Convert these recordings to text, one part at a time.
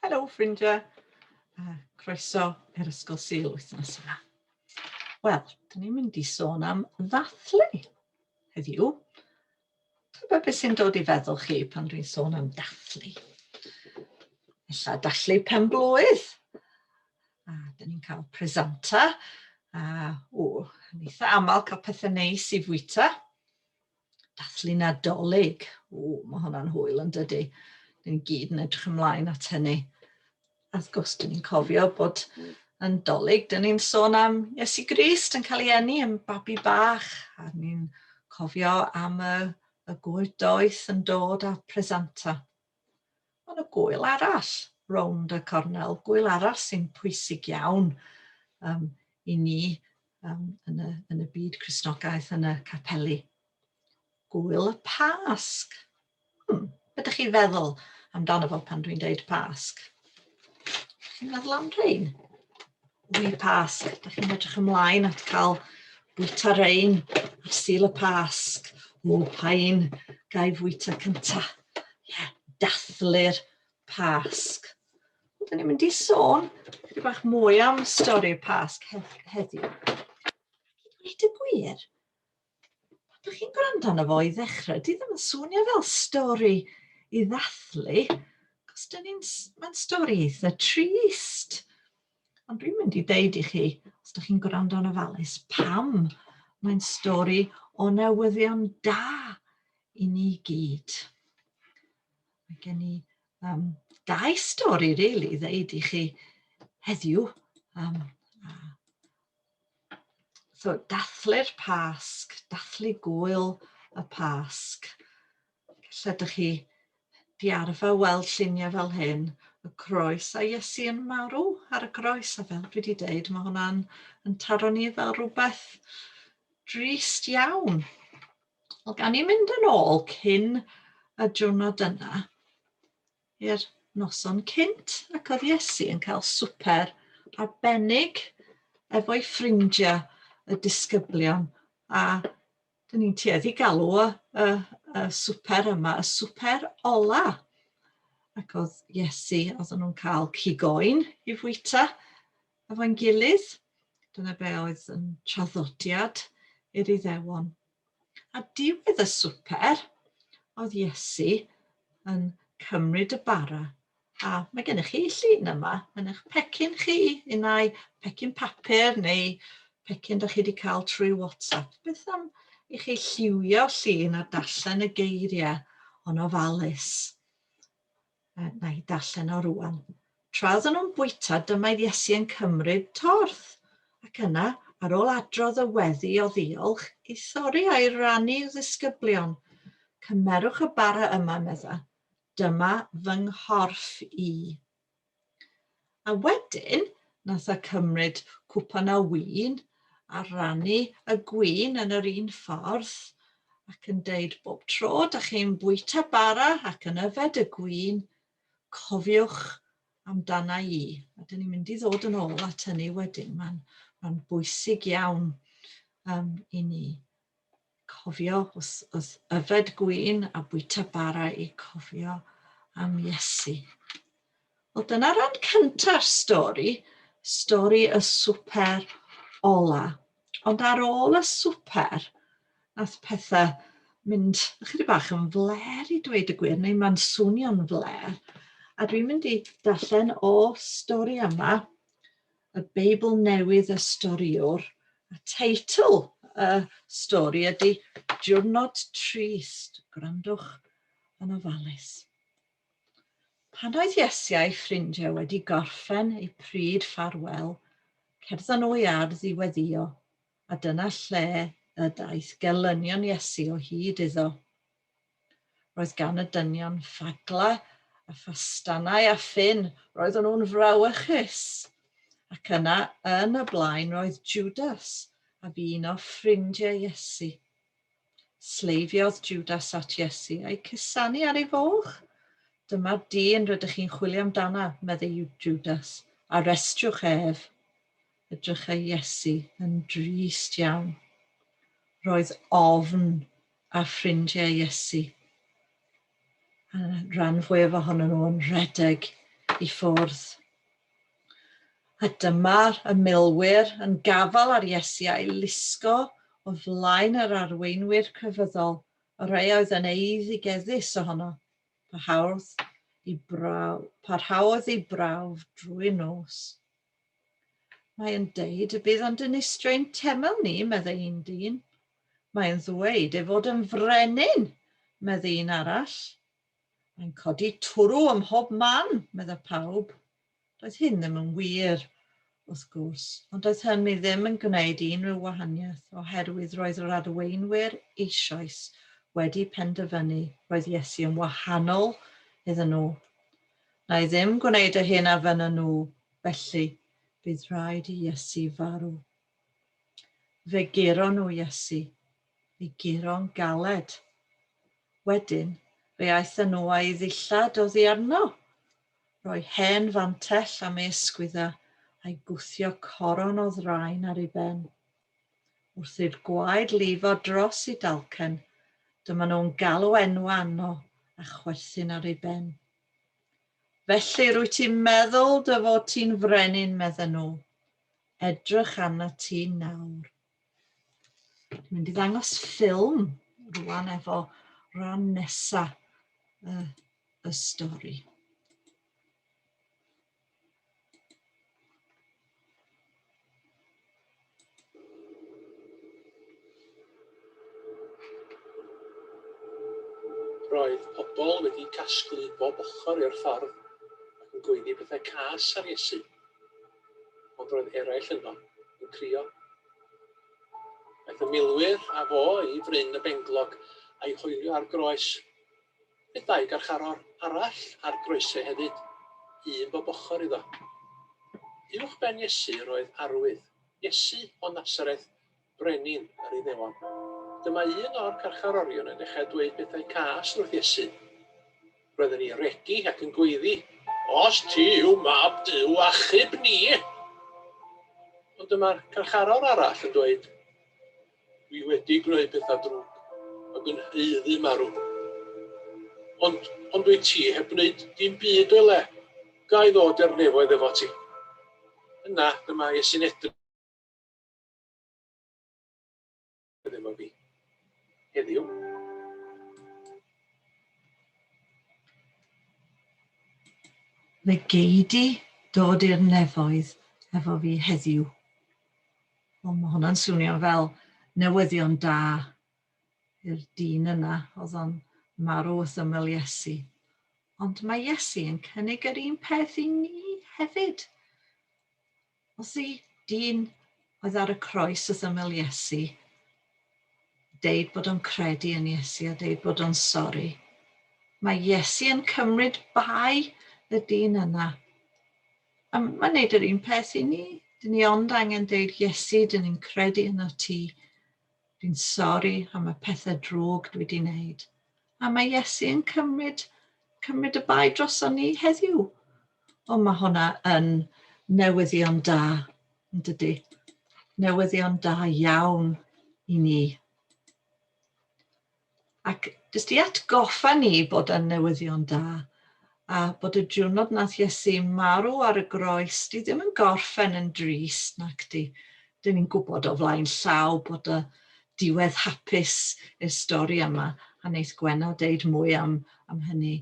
Helo ffrindiau, uh, croeso i'r Ysgol Sil wythnos yma. Wel, dyn ni'n mynd i sôn am ddathlu heddiw. Tyfa beth sy'n dod i feddwl chi pan dwi'n sôn am dathlu. Ella dathlu pen blwydd. A dyn ni'n cael presanta. A, o, yn eitha aml cael pethau neis i fwyta. Dathlu Nadolig. O, mae hwnna'n hwyl yn dydy. Ni'n gyd yn edrych ymlaen at hynny. A wrth gwrs, dyn ni'n cofio bod yn dolyg, dyn ni'n sôn am Iesu Grist yn cael ei enni yn babi bach, a ni'n cofio am y, y gwyr doeth yn dod â presanta. Ond y gŵyl arall, rownd y cornel, gŵyl arall sy'n pwysig iawn um, i ni um, yn, y, yn y byd Cresnogaeth, yn y capeli. Gŵyl y Pasg. Hmm, ydych chi feddwl amdano fo pan dwi'n deud Pasg? Chi'n meddwl am rhain? Ŵy'r Pasg, ydych chi'n edrych ymlaen at cael bwyta rein ar sil y Pasg? O, pa un ga i fwyta cynta? Ie, yeah, dathlu'r Pasg. Dyn ni'n mynd i sôn chydig bach mwy am stori'r Pasg heddiw. Dweud y gwir, pan dych chi'n gwrando arno fo i ddechrau, di ddim yn swnio fel stori i ddathlu, cos dyn ni'n, mae'n stori eitha trist. Ond dwi'n mynd i deud i chi, os dych chi'n gwrando yn ofalus, pam mae'n stori o newyddion da i ni gyd. Mae gen i um, dau stori, really, ddeud i chi heddiw. Um, So, dathlu'r Pasg, dathlu gwyl y Pasg. Lle ydych chi di arfer weld lluniau fel hyn, y croes a Iesu yn marw ar y groes, a fel dwi wedi dweud, mae hwnna'n yn taro ni fel rhywbeth drist iawn. Wel, gan i mynd yn ôl cyn y diwrnod yna, i'r noson cynt ac oedd Iesu yn cael swper arbennig efo'i ffrindiau y disgyblion a dyn ni'n tueddu galw y, y, y swper yma y swper ola ac oedd Iesu oedd nhw'n cael cigoen i fwyta efo'n gilydd dyna be oedd yn traddodiad i'r Iddewon A diwedd y swper, oedd Iesu yn cymryd y bara. A mae gennych chi llun yma yn eich pecyn chi, unai pecyn papur neu pecyn da chi wedi cael trwy WhatsApp. Beth am i chi lliwio llun a darllen y geiriau o'n ofalus? Na i darllen o rŵan. Tra oedden nhw'n bwyta, dymaedd Iesu yn cymryd torth, ac yna, ar ôl adrodd y weddi o ddiolch, i thori a'i rannu i'w ddisgyblion. Cymerwch y bara yma, medda. Dyma fy nghorff i. A wedyn, nath e cymryd cwpan o win a rannu y gwin yn yr un ffordd ac yn deud bob tro da chi'n bwyta bara ac yn yfed y gwin, cofiwch amdana i. A dyn ni'n mynd i ddod yn ôl at hynny wedyn, mae'n ma bwysig iawn um, i ni. Cofio wrth yfed gwin a bwyta bara i cofio am Iesu. Wel dyna ran cynta'r stori, stori y swper ola. Ond ar ôl y swper, nath pethau mynd ychydig bach yn fler i dweud y gwir, neu mae'n swnio'n fler. A dwi'n mynd i darllen o stori yma y Beibl Newydd y Storïwr, a teitl y stori ydy Diwrnod Trist, gwrandwch yn ofalus. Pan oedd Iesu a'i ffrindiau wedi gorffen eu pryd ffarwel, cerddon nhw i ardd i weddio. a dyna lle y daeth gelynion Iesu o hyd iddo. Roedd gan y dynion ffagla a ffastanau a ffyn, roeddwn nhw'n frawychus. Ac yna, yn y blaen, roedd Judas a fu un o ffrindiau Iesu. Sleifiodd Judas at Iesu a'i cusanu ar ei foch. Dyma'r dyn rydych chi'n chwilio amdana, meddai Judas, arrestriwch ef. Edrychai Iesu yn drist iawn. Roedd ofn ar ffrindiau Iesu. A rhan fwyaf ohonyn nhw yn rhedeg i ffwrdd. A dyma'r y milwyr yn gafal ar Iesu a'i lusgo o flaen yr arweinwyr crefyddol, y rhai oedd yn eiddigeddus ohono. Parhaodd i brawf, parhaodd ei brawf drwy'r nos. Mae yn deud y bydd o'n dinistrain temel ni, meddai un dyn. Mae yn ddweud ei fod yn frenin, meddai un arall. Mae'n codi twrw ym mhob man, medda pawb. Doedd hyn ddim yn wir, wrth gwrs, ond doedd hynny ddim yn gwneud unrhyw wahaniaeth oherwydd roedd yr arweinwyr eisoes wedi penderfynu roedd Iesu yn wahanol iddyn nhw. Na i ddim gwneud y hyn a fynna nhw, felly, bydd rhaid i Iesu farw. Fe guro nhw Iesu, i guro'n galed. Wedyn, fe aethon nhw a'i ddillad oddi arno. Roi hen fantell am ei ysgwydda a'i gwthio coron o ddraen ar ei ben. Wrth i'r gwaed lifo dros i dalcen, dyma nhw'n galw enw anno a chwerthin ar ei ben. Felly rwy ti'n meddwl dy fod ti'n frenin, medden nhw. Edrych arna ti nawr. Dwi'n mynd i ddangos ffilm rwan efo rhan nesa y, y stori. Roedd pobl wedi casglu bob ochr i'r ffordd ac yn gweiddi pethau cas ar Iesu. Ond roedd eraill yno yn crio. Aeth y milwyr a fo i fryn y benglog a'i hoelio ar groes. Bydd dau garcharor arall ar groeso hefyd, un bob ochr iddo. Uwchben Iesu yr oedd arwydd, Iesu o Nasareth, Brenin yr Iddewon. Dyma un o'r carcharorion yn dechrau dweud pethau cas wrth Iesu. Roedd yn ei regi ac yn gweiddi, Os ti yw mab Duw, achub ni! Ond dyma'r carcharor arall yn dweud, Dwi wedi gwneud petha drwg a dwi haeddu marw. Ond, ond dwyt ti heb wneud dim byd o'i le. Ga i ddod i'r nefoedd efo ti? Yna, dyma Iesu'n edrych efo fi. Heddiw. Fe gei di dod i'r nefoedd efo fi heddiw. Wel, mae hwnna'n swnio fel newyddion da i'r dyn yna oedd o'n marw wrth ymyl Iesu. Ond mae Iesu yn cynnig yr un peth i ni hefyd. Os y dyn oedd ar y croes wrth ymyl Iesu, deud bod o'n credu yn Iesu a deud bod o'n sori. Mae Iesu yn cymryd bai y dyn yna A mae'n neud yr un peth i ni. Dyn ni ond angen deud, Iesu, dyn ni'n credu yn y ti. Dwi'n sori am y pethau drwg dwi wedi wneud. A mae Iesu yn cymryd, cymryd y bai dros o'n ni heddiw. O, mae hwnna yn newyddion da, yn dydy. Newyddion da iawn i ni. Ac jyst i atgoffa ni bod yn newyddion da, a bod y diwrnod nath Iesu marw ar y groes, di ddim yn gorffen yn drist, nac di? Dyn ni'n gwybod o flaen llaw bod y diwedd hapus i'r stori yma, a neith Gwenna deud mwy am, am hynny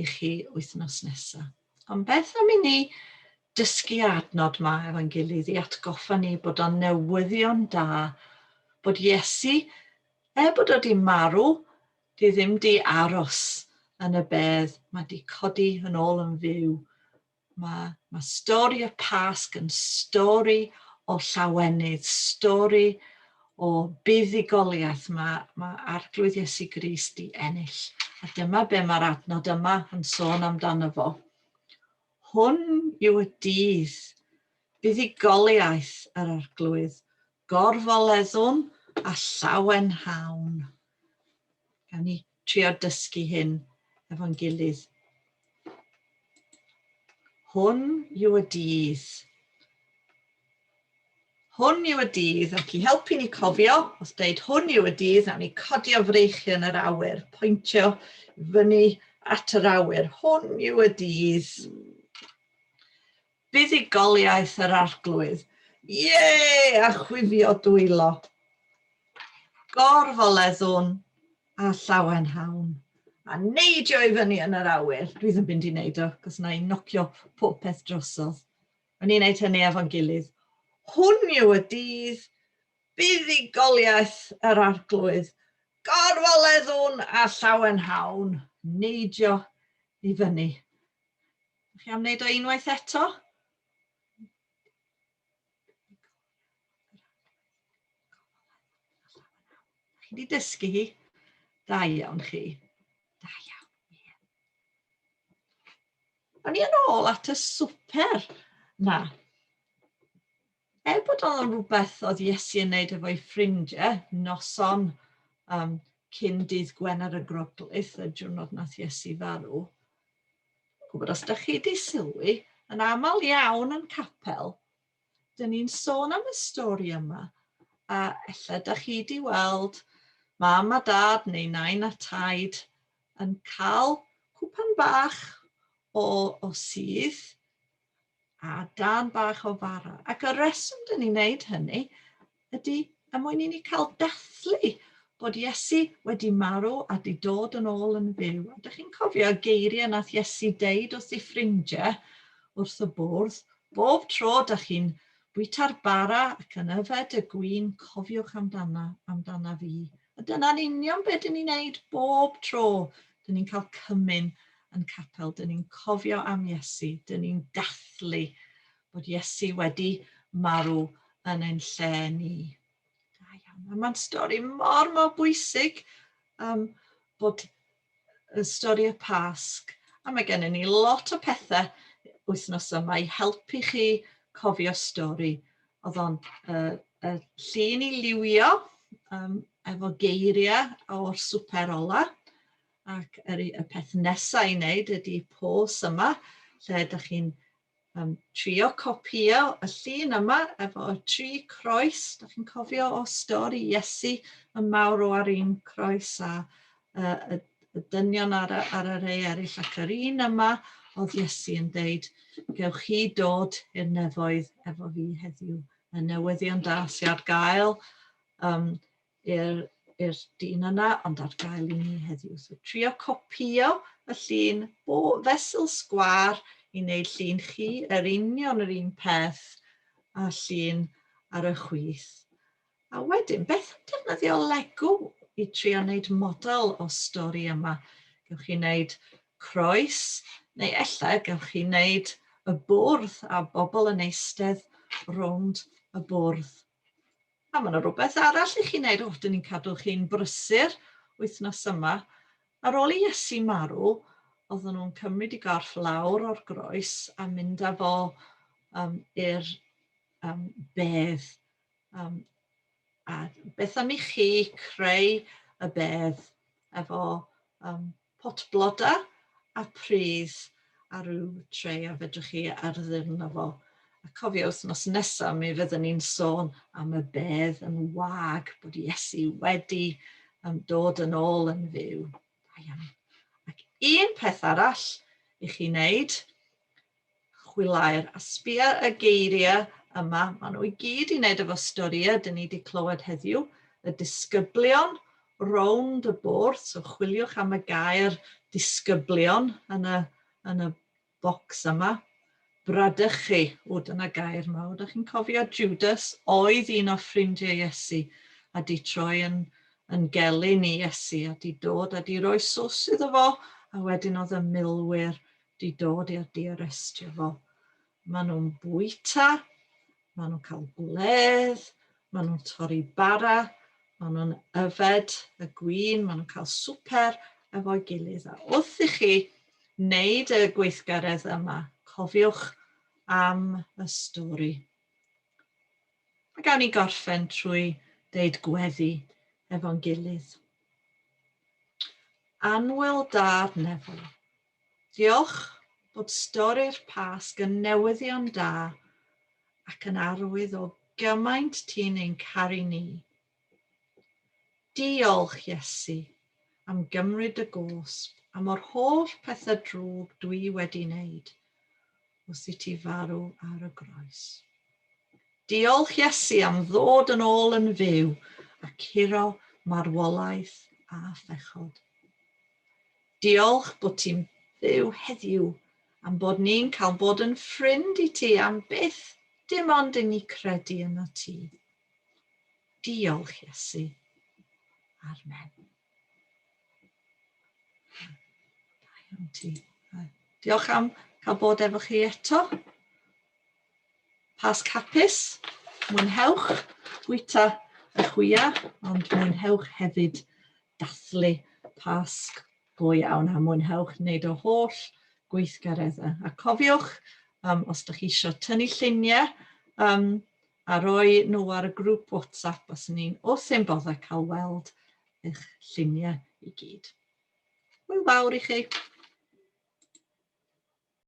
i chi wythnos nesaf. Ond beth am i ni dysgu adnod ma efo'n gilydd i atgoffa ni bod o'n newyddion da bod Iesu, er bod o di marw, di ddim di aros yn y bedd, mae di codi yn ôl yn fyw Mae, mae stori y Pasg yn stori o llawenydd, stori o buddugoliaeth. Mae, mae Arglwydd Iesu Grist i ennill. A dyma be mae'r adnod yma yn sôn amdano fo. Hwn yw y dydd buddugoliaeth yr Arglwydd, gorfoleddwn a llawenhawn. Gawn ni trio dysgu hyn efo'n gilydd. Hwn yw y dydd. Hwn yw y dydd, ac i helpu ni cofio, os dweud hwn yw y dydd, a ni codio freichi yn yr awyr, pwyntio fyny at yr awyr. Hwn yw y dydd. Buddugoliaeth yr Arglwydd. Ie! a chwifio dwylo. Gorfoleddwn a llawenhawn, a neidio i fyny yn yr awyr. Dwi ddim mynd i wneud o, cos na i nocio popeth drosodd. O'n i'n neud hynny efo'n gilydd. Hwn yw y dydd buddugoliaeth yr arglwydd. Gorfoleddwn a llawenhawn, neidio i fyny. Ydych chi am wneud o unwaith eto? Chi wedi dysgu hi? Da iawn chi. Da iawn. O'n i yn ôl at y swper. Na. Er bod o'n rhywbeth oedd Iesu yn wneud efo'i ffrindiau, noson um, cyn dydd Gwener y Groglith, y diwrnod nath Iesu farw, gwybod os da chi di sylwi, yn aml iawn yn capel, dyn ni'n sôn am y stori yma, a efallai da chi di weld mam a dad neu nain a taid yn cael cwpan bach o, o sydd a darn bach o fara. Ac y reswm dyn ni'n wneud hynny ydy er mwyn i ni cael dathlu bod Iesu wedi marw a di dod yn ôl yn fyw. A dych chi'n cofio y geiriau nath Iesu deud wrth ei ffrindiau wrth y bwrdd, bob tro da chi'n bwyta'r bara ac yn yfed y gwyn, cofiwch amdana, amdana fi. A dyna'n union beth dyn ni'n neud bob tro. Dyn ni'n cael cymyn yn capel, dyn ni'n cofio am Iesu, dyn ni'n dathlu bod Iesu wedi marw yn ein lle ni. Da iawn. Mae'n stori mor mor bwysig um, bod y stori y Pasg a mae gennym ni lot o pethau wythnos yma i helpu chi cofio stori. Oedd o'n uh, uh, llun i liwio um, efo geiriau o'r swper ola ac yr, y peth nesaf i wneud ydy pos yma lle ydych chi'n Yym, trio copïo y llun yma efo y tri croes, da chi'n cofio o stori Iesu y mawr o ar un croes a uh, y, y dynion ar, ar y rei eraill ac yr un yma oedd Iesu yn deud, gewch chi dod i'r nefoedd efo fi heddiw. Y newyddion da sy'n ar gael um, i'r i'r dyn yna, ond ar gael i ni heddiw. So trio copio y llun bo fesul sgwar i wneud llun chi, yr union yr un peth a llun ar y chwith. A wedyn, beth am defnyddio Lego i trio wneud model o stori yma? Gewch chi wneud croes, neu ella gewch chi wneud y bwrdd a bobl yn eistedd rownd y bwrdd. A mae yna rhywbeth arall i chi wneud, o, dyn ni'n cadw chi'n brysur wythnos yma. Ar ôl i Iesu marw, oedden nhw'n cymryd i gorff lawr o'r groes a mynd â fo um, i'r um, bedd. Um, a beth am i chi creu y bedd efo um, pot blodau a pridd a rhyw tray a fedrwch chi arddu'r na fo. A cofio wythnos nesaf mi fydden ni'n sôn am y bedd yn wag bod Iesu wedi um, dod yn ôl yn fyw. Da iawn. Ac un peth arall i chi wneud, chwilaer a sbia y geiriau yma, maen nhw i gyd i wneud efo storïau dyn ni wedi clywed heddiw, y disgyblion rownd y bwrdd, so chwiliwch am y gair disgyblion yn y, yn y bocs yma, bradychu, o dyna gair mawr, da chi'n cofio Judas oedd un o ffrindiau Iesu a di troi yn, yn gelyn i Iesu a di dod a di roi sws iddo fo a wedyn oedd y milwyr 'di dod i'r diarestio fo. Maen nhw'n bwyta, maen nhw'n cael gwledd, maen nhw'n torri bara, maen nhw'n yfed y gwin, maen nhw'n cael swper efo'i gilydd. A wrth i chi wneud y gweithgaredd yma, cofiwch am y stori. A gawn ni gorffen trwy deud gweddi efo'n gilydd. Anwyl dad nefol. Diolch bod stori'r Pasg yn newyddion da ac yn arwydd o gymaint ti'n ein caru ni. Diolch, Iesu, am gymryd dy gosb a mo'r holl pethau drwg dwi wedi 'neud. wrth i ti farw ar y groes. Diolch Iesu am ddod yn ôl yn fyw a curo marwolaeth a phechod. Diolch bod ti'n byw heddiw am bod ni'n cael bod yn ffrind i ti am byth dim ond i ni credu yna ti. Diolch Iesu. Armen. Diolch am cael bod efo chi eto. Pasg hapus, mwynhewch bwyta y chwia, ond mwynhewch hefyd dathlu Pasg go iawn a mwynhewch wneud o holl gweithgareddau. A cofiwch, um, os ydych chi eisiau tynnu lluniau, um, a roi nhw ar y grŵp WhatsApp os yn un os yn boddau cael weld eich lluniau i gyd. Hwyl fawr i chi!